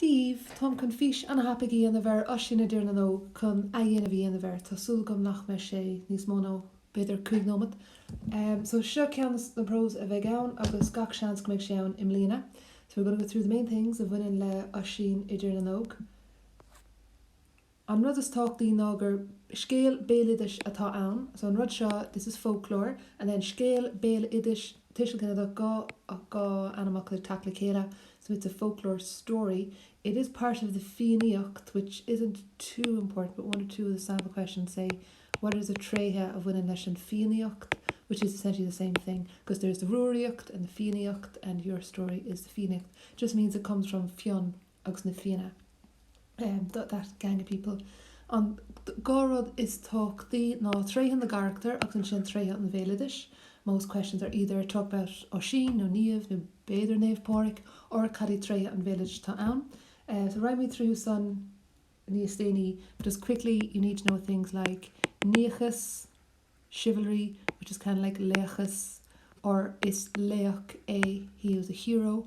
daoibh, táim chun fís an-tapa a dhéanamh ar Oisín i dTír na nÓg chun athdhéanamh a dhéanamh air, tá súil agam nach mbeidh sé níos mó ná b'fhéidir cúig nóimeat. So seo ceann de na prós a bheidh ann agus gach seans go mbeidh sé ann i mbliana. So we're going to go through the main things a bhaineann le Oisín i dTír na nÓg. An rud is tábhachtaí ná gur scéal béaloidis atá ann, so an rud seo, this is folklore, and then scéal béaloidis, tuiseal ginideach, dhá dhá ainmfhocal ag teacht le chéile, so it's a folklore story. It is part of the Fiannaíocht, which isn't too important, but one or two of the sample questions say What are the tréithe a bhaineann leis an Fiannaíocht? which is essentially the same thing, because there's the Rúraíocht and the Fiannaíocht and your story is the Fiannaíocht, just means it comes from Fionn. agus na Fianna that gang of people An dá rud is tábhachtaí ná tréithe na gcarachtar agus ansin tréithe an bhéaloidis Most questions are either talk about Oisín nó Niamh nó b'fhéidir Naomh Pádraig or cad iad tréithe an bhéaloidis atá ann So rachaimid tríothu sin níos déanaí But just quickly you need to know things like Niachas chivalry, which is kind of like laochas or is laoch é he is a hero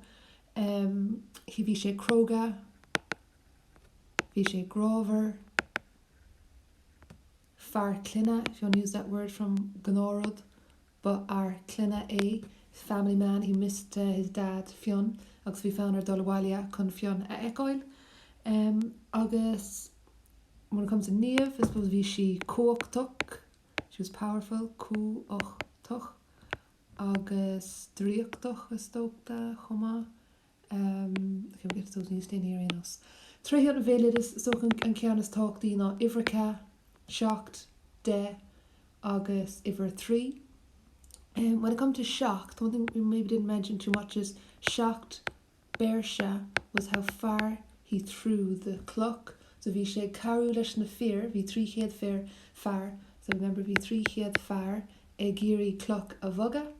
um he bhí sé cróga bhí sé grámhar fear clainne if you want to use that word from Gnáthrud ba fhear clainne é family man he missed uh, his dad Fionn agus bhí fonn air dul abhaile chun Fionn a fheiceáil um, agus when it comes to Niamh, I suppose bhí sí cumhachtach she was powerful cumhachtach agus draíochtach is dócha chomh maith em okay we get to those when you stay near aon nós tréithe an bhéaloidis is dócha an ceann is tábhachtaí ná uimhir a ceath seacht deich agus uimhir a trí em when it comes to seacht one thing we maybe didn't mention too much is seacht bpéirse was how far he threw the cloch, so bhí sé ag cabhrú leis na fir, bhí trí chéad fir, fear, so remember bhí trí chéad fear ag iarraidh cloch a bhogadh,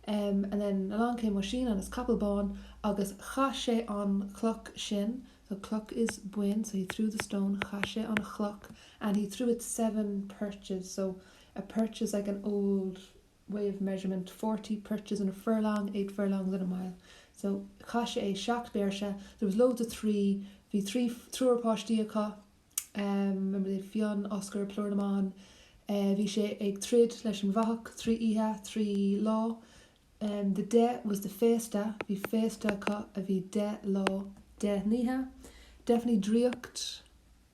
and then along came Oisín and his capall bán agus chaith sé an chloch sin, so cloch is bain, so he threw the stone, chaith sé an chloch and he threw it seven perches, so a perch is like an old. way of measurement, forty perches in a furlong, eight furlongs in a mile. So, chaith sé seacht bpéirse, there was loads of three, bhí trí, triúr páistí acu, remember they had Fionn, Oscar, plúr na mban, bhí sé ag troid leis an bhfathach, trí oíche, trí lá, the deich was the féasta, bhí féasta acu a bhí deich lá, deich n-oíche, definitely draíocht,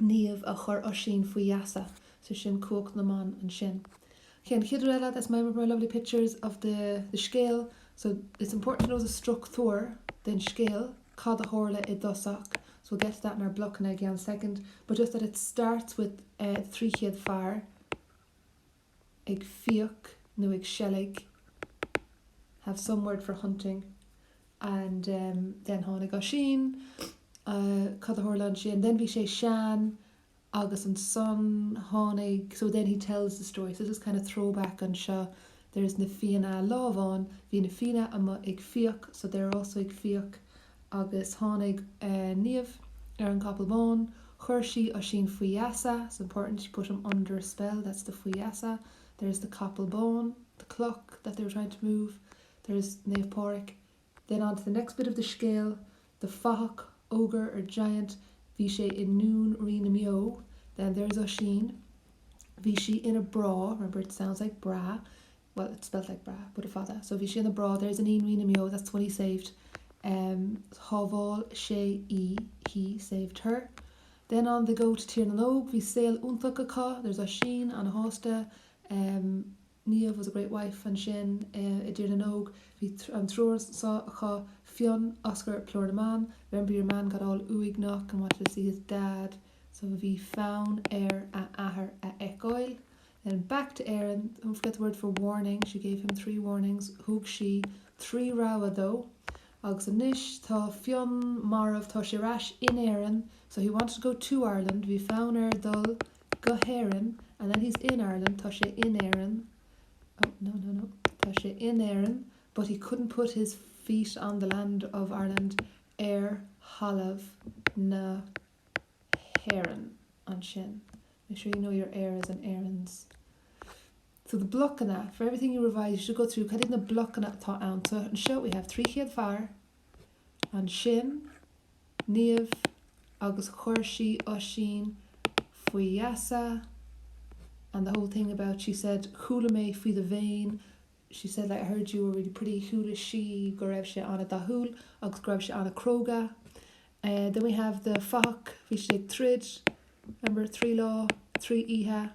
Niamh a chuir Oisín faoi gheasa, sé sin cumhacht na mban ansin. Cé an chéad rud eile there's some more lovely pictures of the the scéal so it's important to know the struchtúr den scéal cad a tharla i dtosach so we'll get to that in our blocanna i gceann soicind but just that it starts with eh 300 fear ag fiach nó ag seilg have some words for hunting and then tháinig Oisín cad a tharla ansin then bhí sé sean agus ansan tháinig so then he tells the story so just kind of throwback anseo there's na Fianna lá amháin bhí na Fianna amuigh ag fiach so they're also ag fiach Agus tháinig Niamh ar an gcapall bán. Chuir sí Oisín faoi gheasa, it's important, she put him under a spell, that's the faoi gheasa, there's the capall bán, the cloch that they were trying to move, there's Naomh Pádraig. Then on to the next bit of the scéal, the fathach, ogre or giant, bhí sé i ndún rí na mbeo, then there's Oisín, bhí sí ina brá, remember it sounds like brá, well it's spelt like bra but a fada so bhí sí ina brá there's iníon rí na mbeo that's the one he saved um shábháil sé í he saved her then on they go to Tír na nÓg bhí saol iontach acu there's Oisín an-shásta um Niamh was a great wife ansin uh i dTír na nÓg bhí an triúr anseo acu Fionn Oscar plúr na mban remember your man got all uaigneach and wanted to see his dad so bhí fonn air a athair a fheiceáil Then back to Éirinn, don't forget the word for warning, she gave him three warnings, thug sí trí rabhadh dó, agus anois tá Fionn marbh, tá sé ar ais in Éirinn, so he wanted to go to Ireland, bhí fonn air dul go hÉirinn, and then he's in Ireland, tá sé in Éirinn, oh, no, no, no, tá sé in Éirinn, but he couldn't put his feet on the land of Ireland, ar thalamh na. hÉireann ansin. Make sure you know your Éires and Éirinns. So the blocanna, for everything you revise you should go through cad iad na blocanna atá ann. So anseo we have 300 fear, ansin Niamh agus chuir sí Oisín faoi gheasa and the whole thing about she said chuala mé faoi do scéimh she said like I heard you were really pretty chuala sí go raibh sé an-dathúil agus go raibh sé an-chróga. Eh then we have the fathach, bhí siad ag troid, remember trí lá, trí oíche,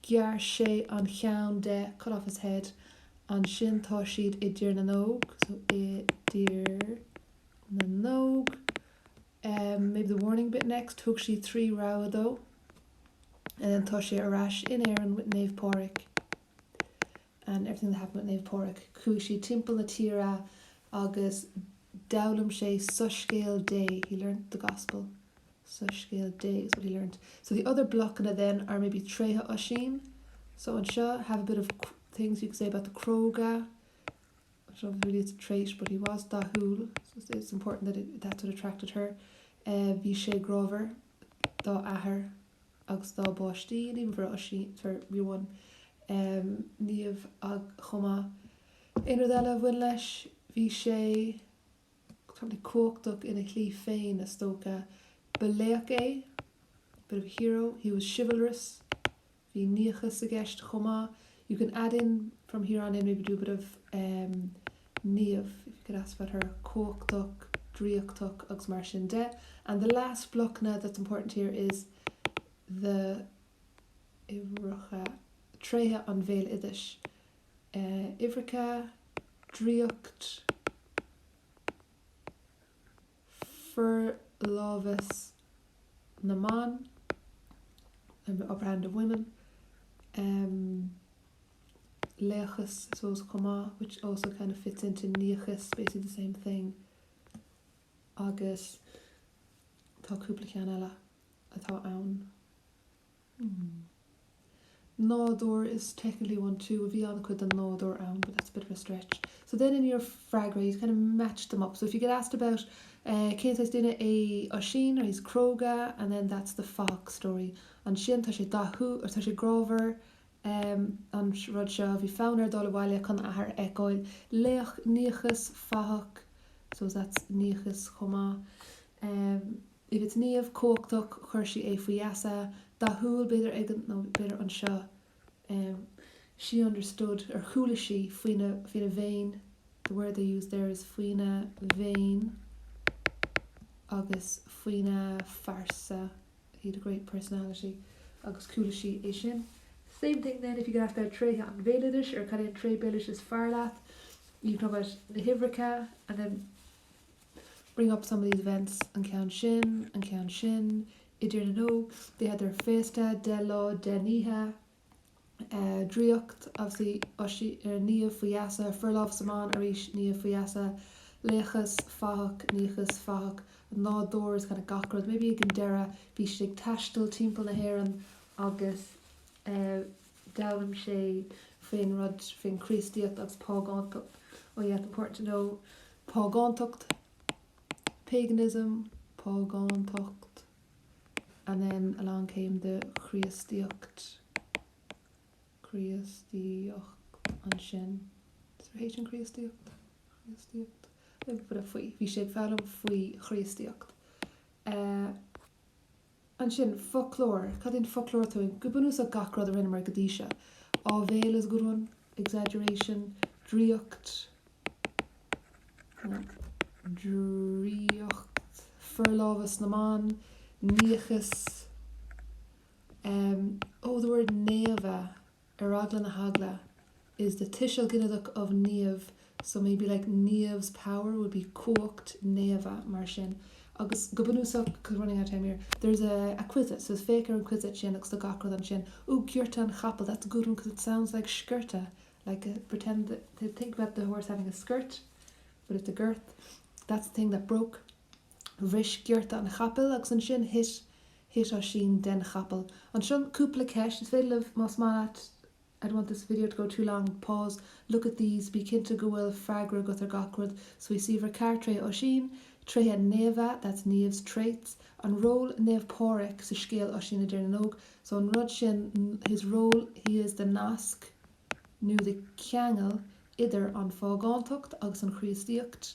ghearr sé an cheann de, cut off his head, ansin tá siad i dTír na nÓg, so i dTír na nÓg, em maybe the warning bit next, thug sí trí rabhadh dó, and then tá sé ar ais in Éirinn with Naomh Pádraig. and everything that happened at Naomh Pádraig, chuaigh siad timpeall na tíre agus d'fhoghlaim sé soiscéal Dé, he learned the gospel, soiscéal Dé is what he learned. So the other blocanna then are maybe tréithe Oisín, so anseo have a bit of things you could say about the cróga, I don't know if really it's a trait but he was dathúil, so it's important that it, that's what attracted her, bhí sé grámhar dá athair. agus dá bpáistí, i bhfabhar Oisín, dar m'anam, Niamh chomh maith. Aon rud eile a bhain leis, bhí sé probably cumhachtach ina shlí féin is dócha. Ba laoch é, bit of a hero, he was chivalrous, bhí niachas i gceist chomh maith, you can add in from here on in maybe do a bit of. Niamh, if you get asked about her, cumhachtach, draíochtach agus mar sin de, and the last block now that's important here is the uimhreacha, tréithe an bhéaloidis, uimhreacha, draíocht, forlámhas na mban, the upper hand of women, laochas I suppose chomh maith which also kind of fits into niachas, basically the same thing agus tá cúpla ceann eile atá ann. Hmm. Nádúr is technically one too, bhuel bhí an-chuid den nádúr ann but that's a bit of a stretch. So then in your freagra you kind of match them up. So if you get asked about eh cén saghas duine é Oisín, he's cróga and then that's the fathach story. Ansin tá sé dathúil or tá sé grámhar em an rud seo, bhí fonn air dul abhaile chun a athair a fheiceáil. Laoch, niachas, fathach, suppose that's niachas chomh maith. Em. Niamh cumhachtach chuir si é faoi gheasa, dathúil, b'fhéidir ag an, nó b'fhéidir anseo, em. she understood, ar chuala sí, faoina, faoina mhéin, the word they used there is faoina mhéin agus faoina phearsa, he had a great personality agus chuala sí é sin. Same thing then, if you get asked tréithe an bhéaloidis, ar cad é an tréith béaloidis is fearr leat, you'd know about na huimhreacha and then, bring up some of these events, an ceann sin, an ceann sin, i dTír na nÓg, they had their féasta deich lá deich n-oíche, draíocht, obviously ar Niamh, faoi gheasa, forlámhas na mban, arís, Niamh faoi gheasa, laochas, fathach, niachas, fathach, an nádúr is kind of gach rud, maybe ag an deireadh bhí siad ag taisteal timpeall na hÉireann agus eh. D'fhoghlaim sé faoin rud, faoin Chríostaíocht agus págántacht. Oh yeah, it's important to know págántacht, paganism, págántacht, and then along came the Críostaíocht, Críostaíocht ansin. Is there H in Críostaíocht? Chríostaíocht. Faoi, bhí sé ag foghlaim faoi Chríostaíocht. Eh. Ansin, foclóir. Cad é an foclóir atá ann? Go bunúsach gach rud a rinneamar go dtí seo. Áibhéil is your own, exaggeration, draíocht, draíocht, forlámhas na mban, niachas, em, oh, the word naomh a. Ar eagla na heagla, is the tuiseal ginideach of Niamh so maybe like Niamh's power would be cumhacht Néimhe, mar sin. Agus go bunúsach, cause we're running out of time here, there's a a quizzet, so is féach ar an quizzet sin agus tá gach rud ansin. Ooh giorta an chapaill, that's a good one cause it sounds like sciorta, like a pretend that, think about the horse having a skirt, but it's a girth. That's the thing that broke. Bhris giorta an chapaill agus ansin thit thit Oisín den chapall. Anseo cúpla ceist, is féidir libh, más mian libh I don't want this video to go too long, pause, look at these, bí cinnte go bhfuil freagra agat ar gach rud so ríomh ceithre tréithe Oisín? Tréithe Niamh, that's Niamh's traits, an ról Naomh Pádraig sa scéal Oisín i dTír na nÓg so an rud sin his role, he is the nasc nó the ceangal idir an phágántacht agus an Chríostaíocht.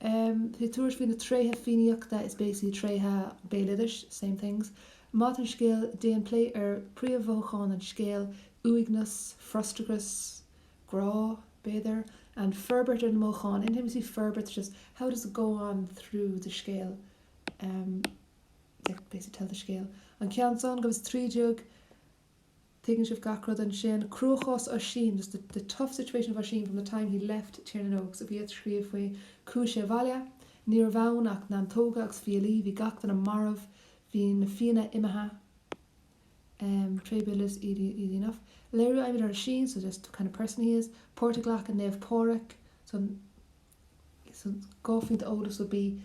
Tabhair faoi na tréithe Fiannaíochta is basically, tréithe béaloidis, same things, maidir leis an scéal, déan plé ar príomh-mhothúcháin an scéil, uaigneas, frustrachas, grá, b'fhéidir, and forbairt ar na mothúcháin, anyway, forbairt just how does it go on through the scéal, like basically tell the scéal, an ceann san, go fós tríd, Tuigeann sibh gach rud ansin, cruachás Oisín, just the, the tough situation of Oisín from the time he left Tír na nÓg. So bí ag scríobh faoi chuaigh sé abhaile, ní raibh ann ach neantóga agus fiailí, bhí gach duine marbh, bhí na Fianna imithe, em, tréithe béaloidis easy, easy enough. Léiriú a fhaighimid ar Oisín, so just the kind of person he is. Páirt a ghlac Naomh Pádraic, so. dhá phointe eolais would be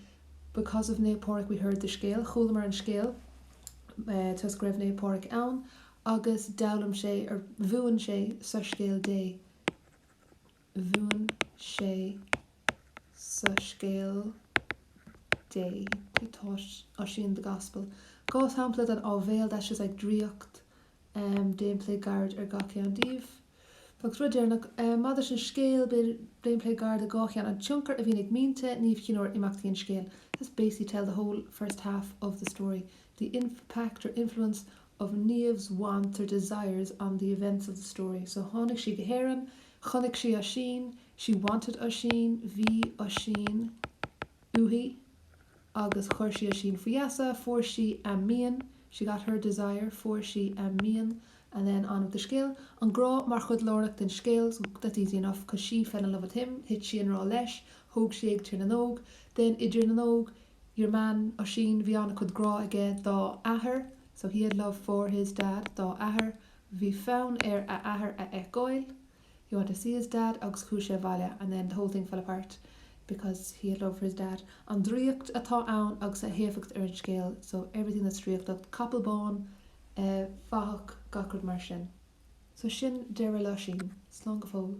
because of Naomh Pádraig we heard the scéal chualamar an scéal toisc go raibh Naomh Pádraig ann agus d'fhoghlaim sé or mhúin sé soiscéal Dé mhúin sé soiscéal Dé he taught Oisín the Gospel dhá shampla den áibhéil that's just like draíocht Déan plé gairid ar gach ceann díobh. Agus rud deireanach, maidir leis an scéal, déan plé gairid ar dhá cheann, an tionchar a bhíonn ag mianta Niamh Chinn Óir ar imeachtaí an scéil. That's basically tell the whole first half of the story, the impact or influence of Niamh's wants or desires on the events of the story. So tháinig sí go hÉireann, chonaic sí Oisín, she wanted Oisín, bhí Oisín uaithi, agus chuir sí Oisín faoi gheasa fuair sí a mian she got her desire fuair sí a mian and then on with the scéal an grá mar chuid lárnach den scéal so that's easy enough because she fell in love with him thit sí i ngrá leis thóg sí é go Tír na nÓg then i dTír na nÓg your man Oisín bhí an-chuid grá aige dá athair so he had love for his dad dá athair bhí fonn air a athair a fheiceáil He wanted to see his dad agus chuaigh sé abhaile and then the whole thing fell apart because he had love for his dad. An draíocht atá ann agus a héifeacht ar an scéal so everything that's draíochtach, capall bán, eh, fathach, gach rud mar sin. So sin deireadh le hOisín. Slán go fóill.